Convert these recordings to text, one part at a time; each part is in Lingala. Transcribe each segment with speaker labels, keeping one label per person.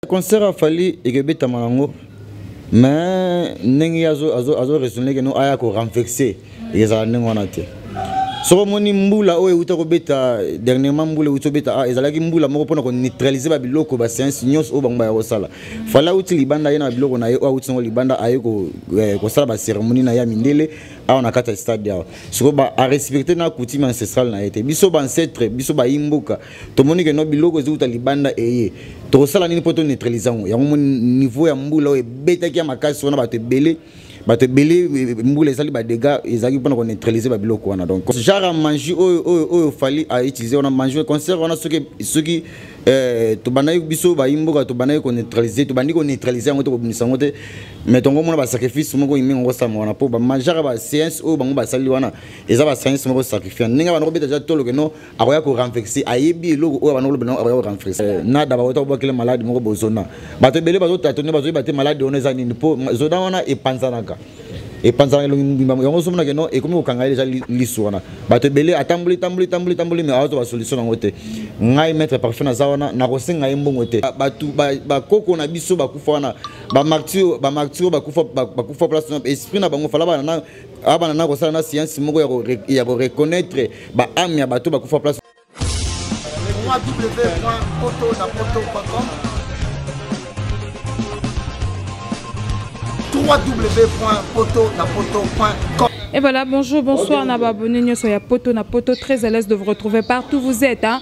Speaker 1: concert ya fali ekebetama yango mais ndenge ye azo raisonne keno aya korenvexe ezala ndenge wana te soki omoni mbula oyo euta kobeta dernièrement mbula euti kobeta a ah, ezalaki mbula moko mpona koneutralize babiloko baseance nyonso oyo bango baya kosala fala auti libanda ye na babiloko na ye oyo auti nango libanda aye eh, kosala baceremonie na ye ya mindele awa na kati ya stade awa sikoyo arespecte na coutume ancestrale na ye te biso baancetre biso bayimboka tomoni ke no biloko ezouta libanda eye tokosala nini mpo toneutralise yango yango moni niveau ya mbula oyo ebetaki ya makasi wana bato ebele bato ebele e, e, mbula ezali badega ezalaki mpona koneutralise babiloko wana donc genre ya mangi oyo oyo oyo fali autilize wana mangi concert wana soki soki eh, tobandaki biso bayimboka tobandaki koneutralise tobandi koneutralise yango te kobimisa yango te mais tongo omona basacrifice moko imingi yango osalama wana mpo bamajaka baseance oyo bango basali wana eza baseance moko sacrifiant ndenge bana kobeta ja toloke no akoya ko renverser ayebi eloko oyo abanda koloba nango akoya ko renverser eh, nada bakota kobwakela maladi moko bozona bato ebele bazotatone bazoyeba te maladi wana eza nini mpo zona wana epanzanaka epanzanaka elongi mobimba yango ozomonake no ekomi kokanga ye deja lisu wana bato ebele atamboli tamboli tamboli tamboli mai awazo basolution yango te ngai maître parfum naza wana nakosenga ye mbongo te bato bakoko na biso bakufa wana bamartiro bakufa place esprit na bango fala bana abana na kosala na siyansi moko ya koreconnaitre baame ya bato bakufa place www.poto-na-poto.com www.poto-na-poto.com
Speaker 2: Et voilà, bonjour, bonsoir, Nababone, Nyoso ya Poto, na Poto, très à l'aise de vous retrouver partout où vous êtes. Hein.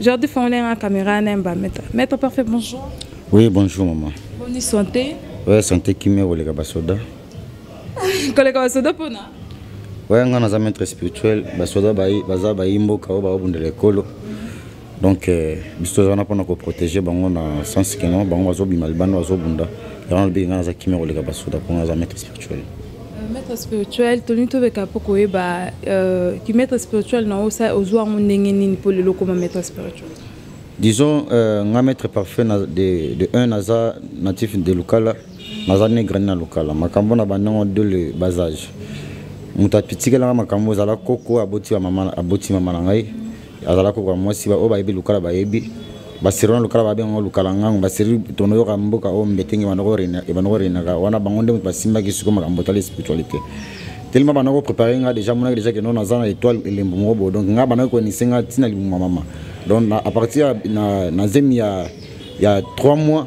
Speaker 2: Jordi fongolai nga caméra na yemba maître maître parfait bonjour oui bonjour
Speaker 1: maman boni santé
Speaker 2: oya santé kimia
Speaker 1: koleka basoda
Speaker 2: koleka basoda mpona oya nga
Speaker 1: naza maître spirituel basoda baza bayi mboka oyo bababundela ekolo donc euh, biso toza wana mpona koprotege bango na sens keno bango bazobima libanda bazobunda yango nalobiki nga naza kimia koleka basoda mpo naza maître actually euh, maître
Speaker 2: spirituel tolingi toleka mpo koyeba euh, ki maître spirituel na osa ozwa yango ndenge nini mpo lelo okoma maître spirituel disons
Speaker 1: euh, nga maître parfait na, de, de un naza natif de lukala naza ne grandi na lukala makambo na bandango de le bas age moto atikelanga makambo ozala koko aboti mama na ngai azalaki kokoka mwasi oyo bayebi lukala bayebi basirona lukala babenga lukala ngango basiri tono yoka mboka oyo mbetenge ebanoko renaka wana bango nde moto basimbaki siko makambo otali spiritualité telema bana koprépare nga déjà monaki déjà keno naza na étoile elembo moko boye donc nga bana koyenise nga ntina libumu ya mama donc à partir na zemi ya ya 3 mois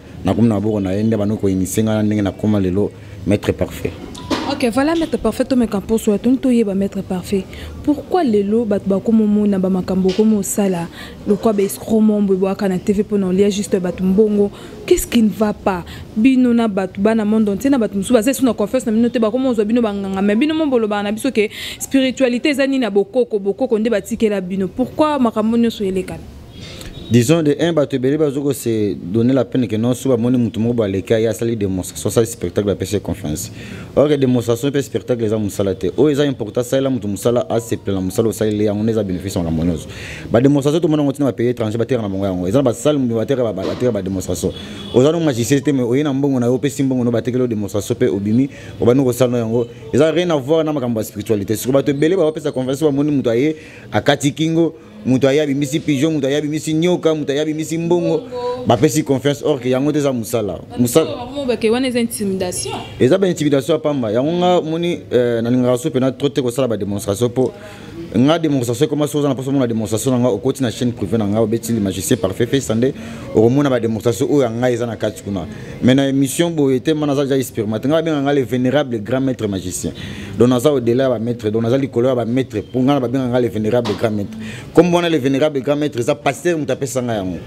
Speaker 1: nakomi na maboko na ye nde abandi koinitie ngai na ndenge nakoma lelo maître parfait ok voilà
Speaker 2: maître parfait tomeka mposo ya toni toyeba maître parfait pourquoi lelo bato bakomomona bamakambo okomi osala lokwa baescromon boye boyaka na tv mpona olia juste bato mbongo qu'est-ce qui ne va pas bino na bato bana monde entier na bato mosusu baza esu na confiance na bino te bakomi ozwa bino banganga mai bino mo bolobaka na biso ke spiritualité eza nini ya bokoko bokoko nde batikela bino pourquoi makambo nyonso elekana disons
Speaker 1: de un bato ebele bazo ko se donner la peine que non so bamoni motu moko baleki aye asali démonstration asali spectacle apesi confiance or démonstration mpe spectacle eza mosala te oyo eza important asalela motu mosala asepela na mosala osaleli yango nde eza bénéfice ya makambo nyonso badémonstration tomona yango ntina bapays étranger bateka na bango yango eza na basale bateka badémonstration oza no magicien te mais oye na mbongo na yo opesi mbongo no batekeli yo démonstration mpe obimi obandi kosala no yango eza rien avoir na makambo ya spiritualité siko bato ebele bapesa confiance bamoni motu aye akati kingo moto aye abimisi pigeon moto aye abimisi nyoka moto aye abimisi mbongo bapesi confiance or ke yango te eza mosala
Speaker 2: eza baintimidation
Speaker 1: ya pamba yango nga moni euh, nalingaka so mpena tro te kosala bademonstration mpo nga demonstration ekoma soki oza na mposa omona demonstration na nga okoti na chaîne privé na nga obeti le magicien parfait fesa nde okomona bademonstration oyo ya ngai eza na kati kuna mais na émission boye te mana aza ja expérimente ngai babenga ngai le vénérable grand maître magicien donc naza odela ya bamaitre donc naza likolo ya bamaitre mpo ngai na babenga ngai le vénérable grand maitre comme wana le vénérable grand maitre eza pasteur moto apesa ngai yango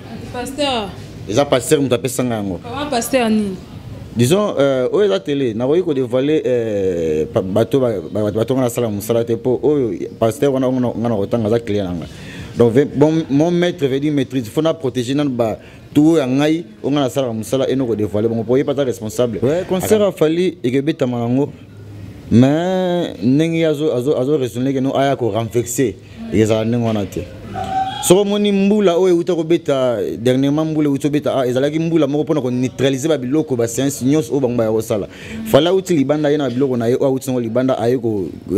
Speaker 1: eza pasteur moto apesa ngai yango
Speaker 2: disons
Speaker 1: euh, oyo eza tele nakoki kodevoile euh, bato bato ngai nasala mosala te mpo oyo pasteur wana ngai nakotanga aza client na ngai donc bon, mon maître veut dire maîtrise faut na protéger nanu ba tout ya ngai oyo ngai nasalaka mosala eno kodevoile bango po ye pata responsable ouais, concert afali ekebetama yango mais ndenge azo azo azo raisonner que no aya ko renverser ezala ndenge wana te soko omoni mbula oyo euta kobeta dernièrement mbula euti kobeta ah, ezalaki mbula moko mpona koneutralize babiloko baseance nyonso oyo bango baya kosala fale auti libanda ye na babiloko na ye oyo auti yango libanda aye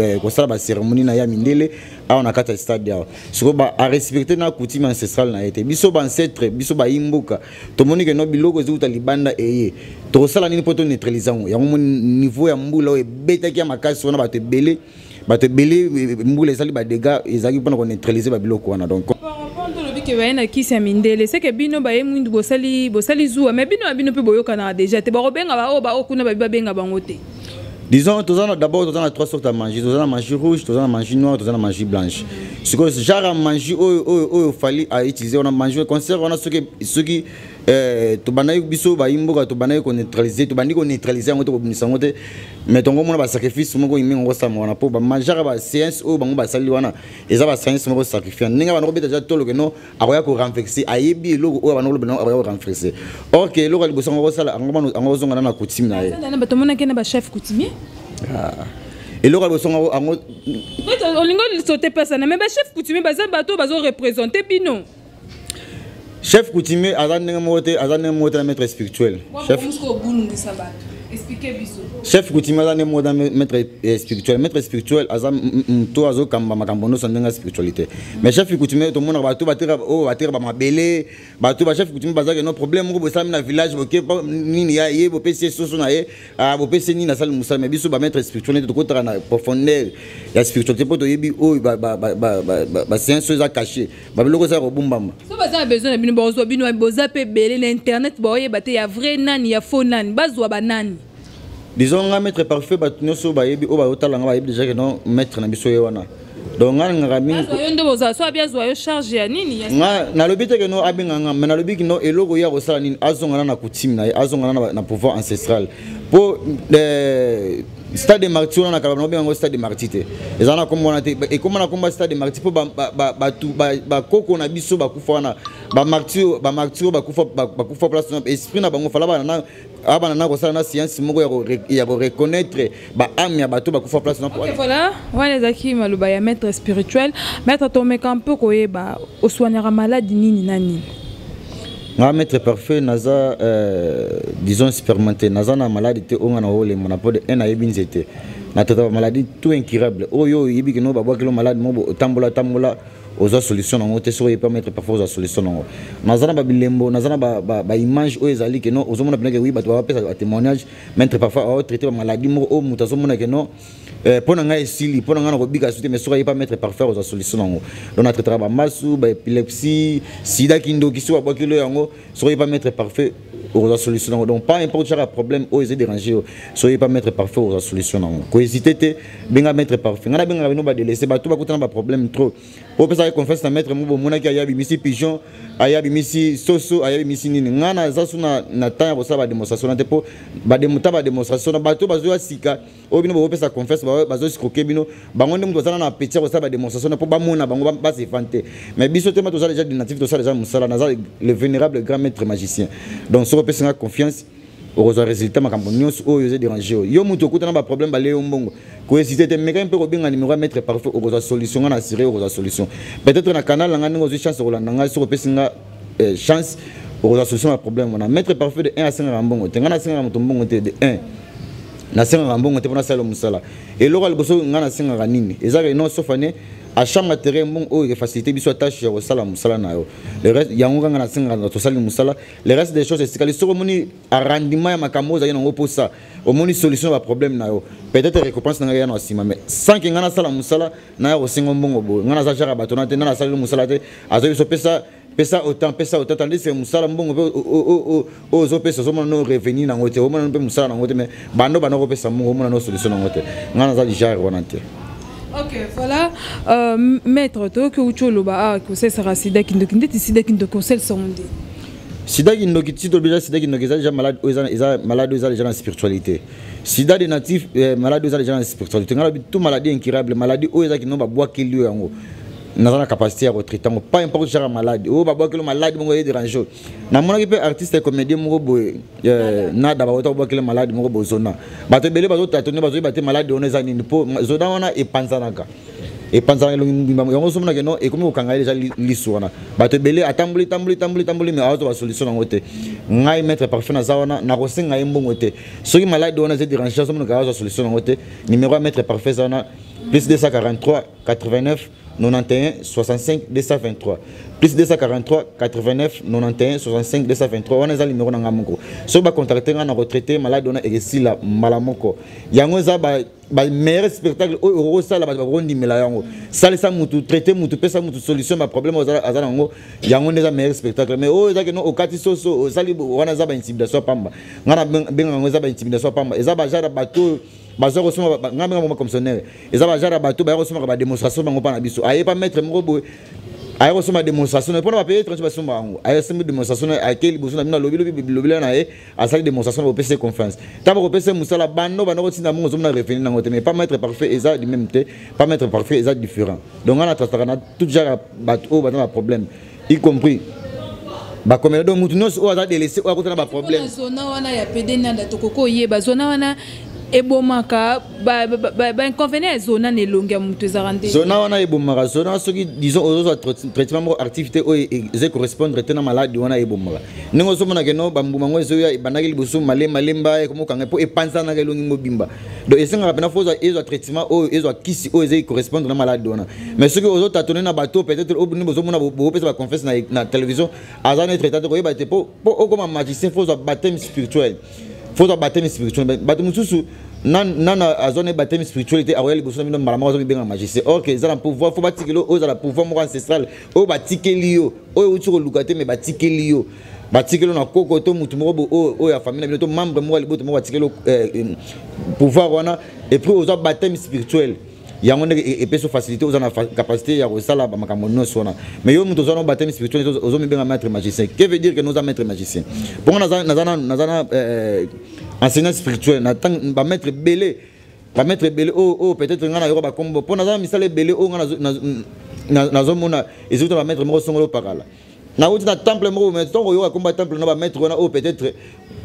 Speaker 1: eh, kosala baceremonie na ye ya mindele awa na kati ya stade awa sikoyo arespecte na coutume ancestrale na ye te biso baancetre biso bayimboka tomoni ke no biloko ezouta libanda eye tokosala nini mpo toneutralise yango yango moni niveau ya mbula oyo ebetaki ya makasi wana bato ebele bato ebele e, e, mbula ezali badega ezalaki mpona koneutralise babiloko wana donc que baye na
Speaker 2: kisi ya mindele seke bino baye mwindu bosali bosali zuwa mais bino ya bino mpe boyokanaka deja te bakobenga baoyo baoyo kuna babi babenga bango te disons toza
Speaker 1: na d'abord toza na trois sortes ya magie toza na magie rouge toza na magie noire toza na magie blanche sikoyo genre ya magie oyo oyo oyo fali autilize wana magie concert wana soki soki eh, tobandaki biso bayimboka tobandaki koneutralize tobandi koneutralize yango te kobimisa yango te mais tongo omona basacrifice moko imingi yango osalama wana mpo bamajara baséance oyo bango basali wana eza baséance moko sacrifiant ndenge bana kobeta ja toloke no akoya ko renverser ayebi eloko oyo abanda koloba nango akoya ko renverser or ke eloko ya liboso yango akosala yango ozonga na na coutume na ye bato omonaki na bachef
Speaker 2: coutumier
Speaker 1: ah. eloko ya liboso yango
Speaker 2: olingi olisote pesana me bachef coutumier baza bato bazo représente bino
Speaker 1: chef coutumier aza ndenge moko te aza ndenge moko te na maître spirituel chef expliquer biso chef kutimi aza nde moda maître eh, spirituel maître spirituel aza moto azokamba makambo nyonso ndenge ya spiritualité mais chef kutimi tomonaka bato bateka oyo oh, bateka bamabele bato bachef kutimi bazaki no problème moko bosalami na village boke nini ya ye bopesi ye soso na ye ah, bopesi nini asali mosala mais biso bamaître spirituel nde tokotaka na profondeur ya spiritualité mpo toyebi oyo oh, basiance oyo eza caché babiloko eza kobumbama so baza na besoin na bino
Speaker 2: bakozwa bino boza mpe ebele na internet baoyeba te ya vrai nani ya faux nani bazwa banani disons nga
Speaker 1: maître parfait bato nyonso bayebi oyo bayotala nga bayebi déjà ke non maître na biso ye wana donc nga nalingaka mingiyo nde bozala so abi
Speaker 2: azwa yo charge ya nini nga nalobi te ke
Speaker 1: no abenga nga mai nalobi kino eloko ye akosala nini azongana na coutume na ye azongana na pouvoir ancestral mpo eh, stade de marti wana na kalabana obenga yango stade de marti te eza na kombo wana te ekoma na kombo ya stade de marti mpo bakoko na biso bakufa wana bamarti oyo bakufa place esprit na bango fala bana abana na kosala na siansi moko ya koreconnaitre baame ya bato bakufa place voilà wana
Speaker 2: ezalaki maloba ya maître spirituel maître tomeka mpe koyeba oswaniaka maladi nini na nini nga
Speaker 1: maître parfait naza euh, disons expérimenté naza na maladi te oyo nga na olembo na mpo de un ayebi nzete na tata bamaladi tout incurable oyo oyebi kino babwakilo maladi mo otambola tambola ozwa solution nango te soki oyebi pa maître parfait ozwa solution nango naza na babilembo naza na baimage oyo ezali keno ozomona mpena ke wi bato bapesa batémoignage maître parfait aotraite bamaladi moko oyo moto azomona keno Eh, mpo na ngai esili mpo na ngai nakobika su te mais soki aye pa mettre parfaire ozwa solution nango donc natraitaka bamasu baepilepsie sida kindoki soki babwakilo yango soki aye pa mettre parfait okozwa solution nango donc pas importe chaka problème oyo eza dérange yo soki aye pa mettre parfait okozwa solution nango kohésite te benga mettre parfait ngai nabengaka bino badelese bato bakutana baproblème trop oyo pesaka confiance na mettre mo bomonaki aye abimisi pigeon aye abimisi soso aye abimisi nini ngai naza su na temps ya kosala bademonstration na te mpo ta bademonstration na bato bazoya sika oyo bino bokopesa confiance bazoescroke bino bango nde moto bazala na appetit ya kosala bademonstration mpo bamona bango bazefane te mais biso te ma toza déjà dinatif tosala déjà mosala naza le vénérable grand maître magicien donc soki opesi nga confiance okozwa résultat makambo nyonso oyo eza dérange oyo yo moto okuta na baproblème bale yo mbongo koesite te mekaki mpe kobenga nimero ya maître parfait okozwa solution nga na assuré okozwa solution peut-être na canal na nga ndenge ozwi chance okolanda ngai soki opesi nga eh, chance okozwa solution ya problème wana maître parfait de 1 asengaka mbongo te ngai nasengaka moto mbongo te de 1 nasengaka mbongo te mpo nasala mosala eloko ya liboso ngai nasengaka nini ezaka ino sofane achanga terrain mbongo oyo efacilité biso atashe ya kosala mosala na yo yango kaka nasengaka tosali mosala le reste des choses esikali soki omoni arrandiment ya makambo oyo ozali nango mposa omoni solution ya baproblème na yo peut-être récompense na ngai ya na nsima mais sans ke ngai nasala mosala naya kosengo mbongo boye ngai naza jaka bato na te ngai nasaleli mosala te azo biso pesa pesa autant pesa autant tandis que mosala mbongo mpe oyo ozopesa ozomona no revenu nango te omona mpe mosala nango te mais bando banda kopesa mbongo omona no solution nango te ngai naza lijare wana te ok
Speaker 2: voilà euh, maître toyoki outi oloba awa ah, kosalisaka sida kindoki ndeti sida kindoki osalisango nde sida
Speaker 1: kindoki ti tolobela sida kindoki eza deja malade oyo eza malade oyo eza deja na spiritualité sida de natif eh, maladi oza deja na spiritualité ngai lobi tout maladie incurable maladie oyo eza kino babwakeli yo yango naza na capacité ya kotraite yango pas importe jaka maladi oyo babwakeli maladi moko eye derange oyo namonaki mpe artiste ya comédien moko boye eh, nada bakota kobwakeli maladi moko boye zona bato ebele bazotata nde bazoyeba te maladi wana eza nini mpo zona wana epanzanaka epanzaka elongi mobimba yango ozomona ke no ekomi kokanga ye deja lisu wana bato ebele atamboli tamboli tamboli tamboli mai azwa basolution yango te ngai maître parfum naza wana nakosenga ye mbongo te soki maladi wana eza derange azomona kaka azwa solution yango te numero ya maître parfum eza wana plus 243 89 91 65 223 plus 243 89 91 65 223 wana eza numero na ngai moko soki bacontacte ngai na retraite maladi wana ekesila mbala moko yango eza ba meilleur spectacle oyo okosala bato bakondimela yango salisa mutu traite mutu pesa mutu solution ba problème oyo aza nango yango nde eza meilleur spectacle mais oyo eza keno okati soso osali wana eza baintimidation pamba ngai nabenga yango eza baintimidation pamba eza bajare ya bato oyo baza kosoma ngai benga moma commissionnaire eza bajare ya bato baya kosomaka bademonstration bango mpa na biso aye pa maître moko boye aye kosomba demonstration mpona bapaye étranger basomba yango aye asimbi demonstration akei liboso na bino alobi lobi bilobela na ye asali démonstration na bopesi ye confiance ntango bakopesa ye mosala bando banda kotinda mongo ozomona revenu nango te mais pas maître parfait eza du même te pas maître parfait eza différent donc nga na trasaka na tout genre ya bato oyo baza na problème y compris bakomela donc motu nyonso oyo aza delese oyo akotana baproblème zona wana ya pede
Speaker 2: nanda tokoki oyeba zona wana ebomaka bainconvenient ya zona na elongi ya moto ezalaka nde zona wana ebomaka
Speaker 1: zona soki disons ozozwa traitement moko activité oyo eza correspondre te na maladi wana ebomaka ndenge ozomona keno bambuma yango ezoya ebandaki liboso malemalemba ekomokanga mpo epanzanaka elongi mobimba donc esengaka mpena fo ezwa traitement oyo ezwa kisi oyo ezai correspondre na maladi wana mais soki ozotatone na bato peut-être obini bozomona bopesa baconfesse na télévision aza netre tate koyeba te mpo okoma magicien fo ozwa bateme spirituel fo ozwa batemi spirituel bato mosusu nana azwa na ye batemi spirituel te akoya liboso na bino mbala moko azomibenga magicien or ke eza na pouvoir fo batikeli oyo eza na pouvoir moko ancestral oyo batikeli yo oyo euti koluka te me batikeli yo batikeli na koko to motu moko oyo ya famille na bino to membre moko ya liboto moko batikeli eh, eh, pouvoir wana epuis ozwa batemi spirituel yango ndenge e, epesi facilité oza na capacité ya kosala makambo nyonso wana mais yo moto oza na bateme spirituel ozomibenga maître magicien que veut dire que noza maître magicien mpongo naza na eh, eh, enseignant spirituel na ntango bamaître ebele bamaître ebele oyo oh, oh, peut-être ngai nayoka bakombo mpo naza na misala ebele oyo oh, ngai nazomona ezouta bamaître moko songolo pakala nauti na temple moko mais ntango oyoka komba temple na bamaître wana oyo oh, peut-être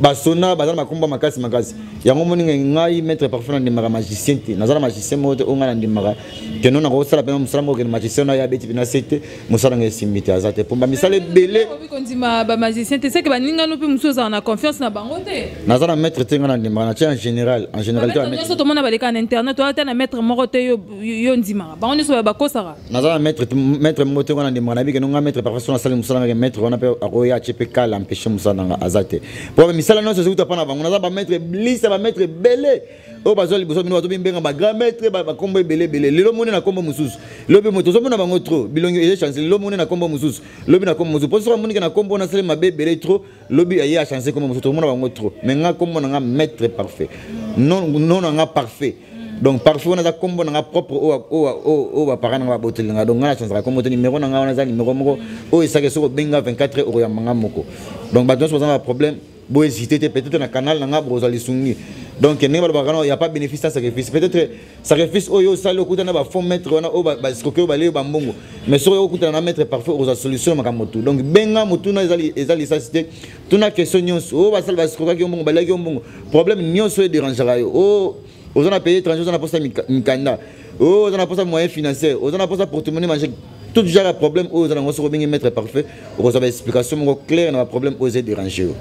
Speaker 1: basona baza na makomba makasi makasi yango moni ngai maître parfois nandimaka magicien te naza na magicien moko te oyo ngai nandimaka keno nako osala mpena mosala moko kende magicien nayo abeti mpena se te mosala ngai esimbi te aza te mpo bamisala ebele kondima
Speaker 2: bamagicien te seke baningano mpe mosusu ozala na confiance na bango te naza na maître te ngai
Speaker 1: nandimaka natie en général en général te nyonso tomona baleka na
Speaker 2: internet oyo ata na maître moko te yo ondimaka bango nyonso bakosaka naza na maître
Speaker 1: maître moko te wana ndimaka nayebi keno ngai maître parfois soki nasali mosala ngake maître wana mpe akoya atye mpe kala empêche mosala na ngai aza te mpo misala nyonso ezikuta mpa na bango naza bamaître blisa bamaître ebele oyo bazwa liboso bino bazobibenga bagrand maître bakombo ebele ebele lelo moni na nkombo mosusu lobi moto ozomona bango trop bilongi eye chance lelo moni na nkombo mosusu lobi na nkombo mosusu mpo soki amonike na nkombo wana asali mabe ebele trop lobi ya ye achange kombo mosusu tokomona bango trop mais nga kombo na nga maître parfait non non na nga parfait donc parfait wana aza kombo na nga propre oyo bapara na nga baboteli na nga donc nga na chanzaka kombo te numero na nga wana eza numero moko oyo esaki soki obenga 24 heure okoyamba nga moko donc bato nyonso baza na baproblème bohésite te peut-être na canal na nga bokozwa lisungi donc ndenge balobaka no ya pas bénéfice sans sacrifice peut-être sacrifice oyo osali okuta na bafond maître wana oyo baescroke oyo baleyo bambongo mais soki okutana na maître parfait okozwa solution ya makambo tu donc benga motuna eza lisasi te tuna question nyonso oyo basali baescrokaki yo mbongo baleki yo mbongo problème nyonso oyo ederangeaka yo o oza na pays étranger oza na mposa mikanda o oza na mposa moyen financier oza na mposa portemone mange tout genre ya problème oyo oza nango soki obengi maître parfait okozwa ba explication moko claire na ba problème oyo eza dérange yo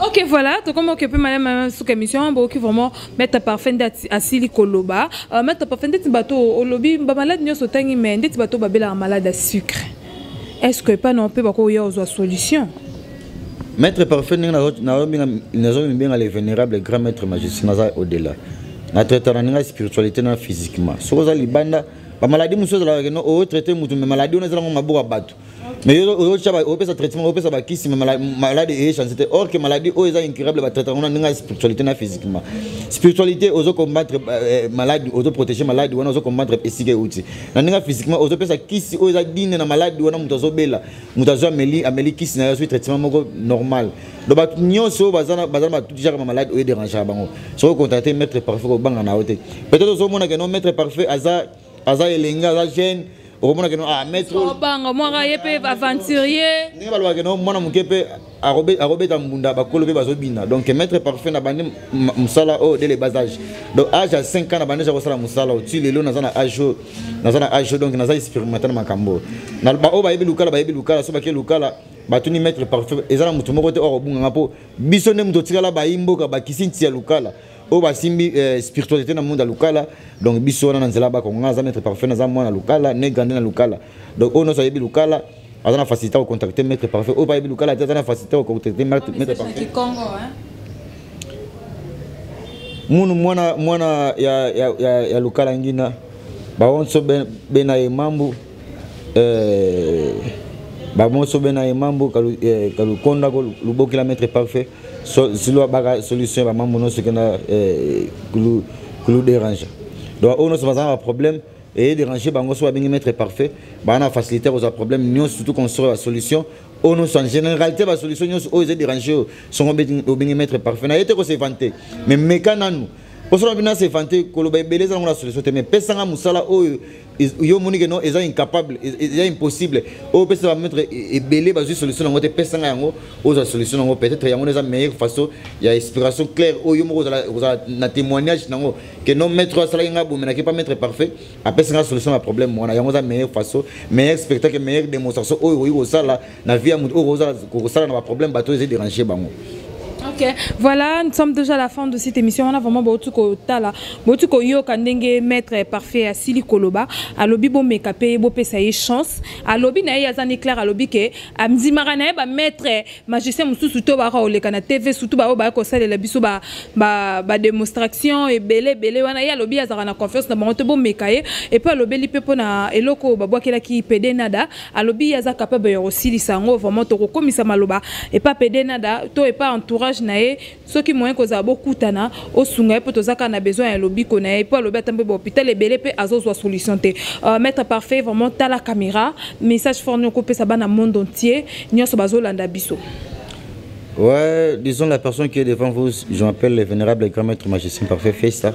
Speaker 1: ok voilà
Speaker 2: tokoma okipe malema meme suka émission bokoki vraiment maître parfait nde asili koloba euh, maître parfait ndeti bato olobi bamalade nyonso otangi mais ndeti bato babelaka malade ya sucre est ce que epai na mpe bakoya ozwa solution maître
Speaker 1: parfait ndenge nazomibenga le vénérable grand maître majesté naza au delà na traitana ndenge spiritualité na physiquement soki oza libanda ba maladie mosusu ezalaka keno oyo traite motu me maladie wana ezalaka maboko ya bato mais opesa traitement opesa bakisi maladi eye chance te or que maladie oyo eza incurable batraite yango na ndenge ya spiritualité na physiquement spiritualité ozo combattre euh, euh, maladi ozo protéger maladi wana ozo combattre esika euti na ndenge ya physiquement ozopesa kisi oyo eza dine na maladi wana moto azobela moto azwi ameli ameli kisi na yo azwi traitement moko normal donc bato nyonso baza na batuti jaka ma malade oyo derangaka bango soki ocontacte maître parfait kobanga na yo te peut-être ozomona ke no maître parfait aza aza elenge aza jeune okomona ke no ah maître obanga mwaka ye
Speaker 2: mpe aventurier ndenge balobaka ke no mwana
Speaker 1: moke mpe akobeta mbunda bakolo mpe bazobina donc maître parfait na bandi mosala oyo dele bas age donc age ya 5 ans na bandi eza kosala mosala oyo ti lelo naza na age oyo naza na age oyo donc naza expérimenté na makambo oyo baoyo bayebi lukala bayebi lukala so bake lukala batuni maître parfum eza na moto moko te oyo akobunganga mpo biso nde moto otikala bayi mboka bakisi nti ya lukala oyo basimbi eh, spiritualité na monde ya lukala donc biso wana na nzela bakonga aza maître parfum aza mwana lukala ne grandi na lukala donc oyo nyonso ayebi lukala aza na facilité ya kocontacte maître parfum oyo bayebi lukala te aza na facilité ya kocontacte maître parfum munu mwana mwana ya, ya, ya, ya lukala ngina baonso bena ye mambu Euh, bamoso bena ye mambo kalukonda eh, ko lubokela maître parfait silwa baka solution ya bamambo nyonso kenda eh, kulu dérange donc oyo nyonso bazala na baproblème eye dérange bango so babengi maître parfait baa na facilité ya kozwa problème nyonso surtout construire basolution oyo nyonso en généralité basolution nyonso oyo eza dérange oyo songo obengi maître parfait na ye te kosevante mais meka nanu osola bino asevante koloba ebele eza nango na solution te mais pesanga mosala oyo yo omoni ke non eza incapable eza impossible oyo opesa bametre e, ebele bazwi solution yango te pesanga yango ozwa solution yango peut-être yango eza meilleure façon ya inspiration claire oyo moko ozala na témoignage nango ke non maître oyo asalaki ngai abomenaki pa maître parfait apesa ngai solution ya problème wana yango eza meilleure façon meilleur spectacle meilleure démonstration oyo okoki kosala na vie ya moto oyo kokosala na baproblème bato oyo eza dérange bango Ok,
Speaker 2: voilà, nous sommes déjà à la fin de cette émission. On a vraiment beaucoup de tala, beaucoup de yo kandenge maître parfait à Sili Koloba, à lobby bon meka paye bon pesa y chance, à lobby na y azan éclair à lobby que à mzimara na ba maître magicien musu suto ba ole kana TV surtout ba ba ko sale la biso ba ba ba démonstration et belé belé wana y a lobby azara na confiance na bango to bon meka et puis à lobby lipe pona eloko ba bwa kela ki pede nada, alobi aza capable ya kosilisa yango vraiment tokokomisa maloba epa pede nada to epa entourage na ye soki moyen kozala bokutana osunga ye mpo toza kaka na besoin ya lobiko na ye mpo alobi ata mpe bahopital ebele mpe azozwa solution te uh, maître parfait vraiment tala caméra message fort nini okopesa bana monde entier nyonso bazolanda biso Ouais,
Speaker 1: disons la personne qui est devant vous, je m'appelle le vénérable grand maître magicien parfait, fait ça.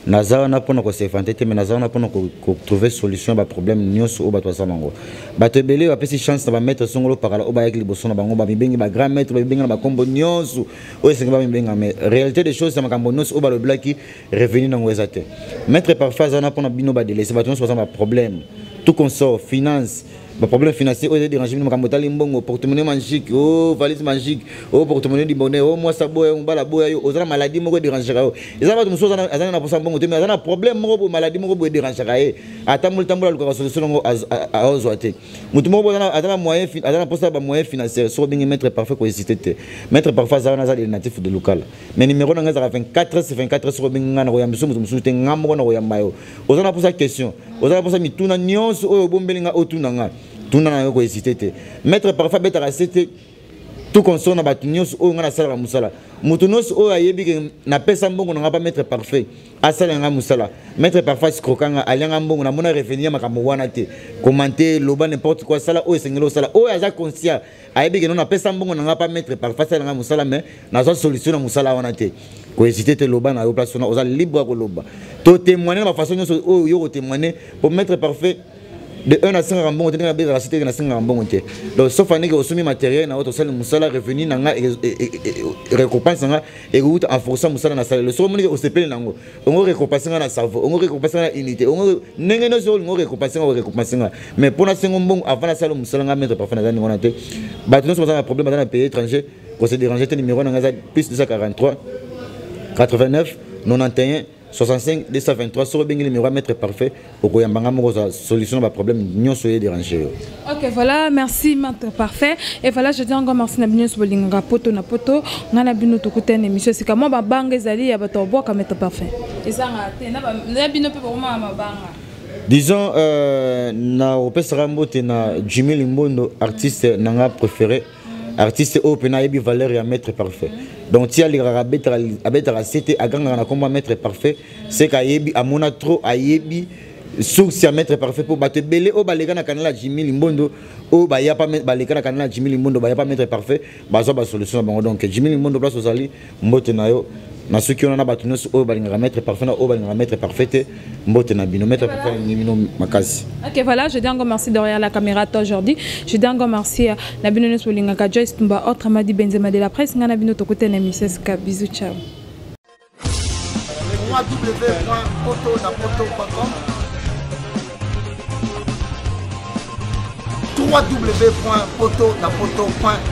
Speaker 1: naza wana mpona kosevante te mais naza wana mpona kotrouve solution ya baproblème nyonso oyo bato baza nango bato ebele oyo bapesi chance na bamaître songolo pakala oyo bayaki liboso na bango bamibengi bagrand maître bamibengi na bakombo nyonso oyo esengi bamibenga mais réalité des choses ya makambo nyonso oyo balobelaki revenu nango eza te maître parfait aza wana mpona bino badelese bato nyonso baza na baproblème tout consort finance ba problème financier oyo dérange bino makambo etali mbongo porte-monnaie magique o oh, valise magique o oh, porte-monnaie du bonheur o oh, mwasi aboya yo mobala aboya yo oza na maladie moko edérangaka yo eza bato mosusu aza na posa mbongo te mais aza na problème moko boye maladie moko boye edérangaka ye atamboli tambola alukaka solution yango aozwa te moto moko boye aza na moyen aza na posa ya bamoyen financière soki obengi maître parfait kohésite te maître parfait aza wana aza le natif de lokala mais numéro na ngai ezalaka 24 24 soki obengi ngai na koyamba biso moto mosusu te ngai moko na koyamba yo oza na posa question oza na posa mituna nyonso oyo obombeli nga otuna nga tuna na yo kohésite te maître parfait abetaka se te tout consort na bato nyonso oyo ngai nasalaka mosala moto nyonso oyo ayebi ke napesa mbongo na ngai pa maître parfait asala ngai mosala maître parfait asikroka ngai alia ngai mbongo namona revenu ya makambo wana te komante loba n'importe quoi sala oyo esengeli osala oyo aza conscient ayebi ke no napesa mbongo na ngai pa maître parfois asala ngai mosala mais nazwa solution na mosala wana te kohésite te loba na yo place wana oza libre ya koloba to témoigne na bafaçon nyonso oyo yo kotémoigne po maître parfait de un asengaka mbongo te ndenge nabetaka si teke nasengaka mbongo te donc sauf andeke osombi matériel na yo tosali mosala revenu na ngai récompense na ngai ekouta en força mosala nasalelo soki omonike osepeli na yango ongo récompense nga na cerveau ongo récompense nga na unité ongo ndenge nyonso oyo olingi orécompense nga orécompense nga mais mpo nasengo mbongo avant nasala mosala nga maître parfum naza ndenge wana te bato nyonso baza na problème baza na pays étranger kose dérange te numéro na nga eza plus 243 89 91 65 223 soki obengi numéro ya maître parfait okoyamba ngai moko ozwa solution na baproblème nyonso oye dérange yo ok voilà
Speaker 2: merci mentre parfait et voilà je dis encore merci na bino nyonso bolingaka poto na poto ngai na bino tokutani émission esika mwa mabanga ezali ya bato babwaka mentre parfait ezanga te na bino mpe bokomaka mabanga disons euh,
Speaker 1: na opesaka mbote na jimmy limbondo artiste na nga préféré artiste oyo mpena ayebi valeur ya maître parfait donc ti alingaka abetaka se te agangaka na nkombo ya maître parfait seke ayebi amona trop ayebi source ya maître parfait mpo bato ebele oyo baleka na kanala jimi limbondo oyo baleka na kanala jimi limbondo baya pa maître parfait bazwa basolution na bango donc jimi limbondo place ozali mbote na yo na soki wana na bato nyonso oyo balingaka maître parfait na oyo balingaka maître parfait te mbote na bino maître parfait alingi bino makasi ok voilà je dis encore
Speaker 2: merci derrière la caméra toi aujourd'hui je dis encore merci euh, na bino nyonso bolingaka joyce tumba autre madi benzema de la presse ngai na bino tokuta na émission sika bisous ciao www.poto
Speaker 3: na poto.com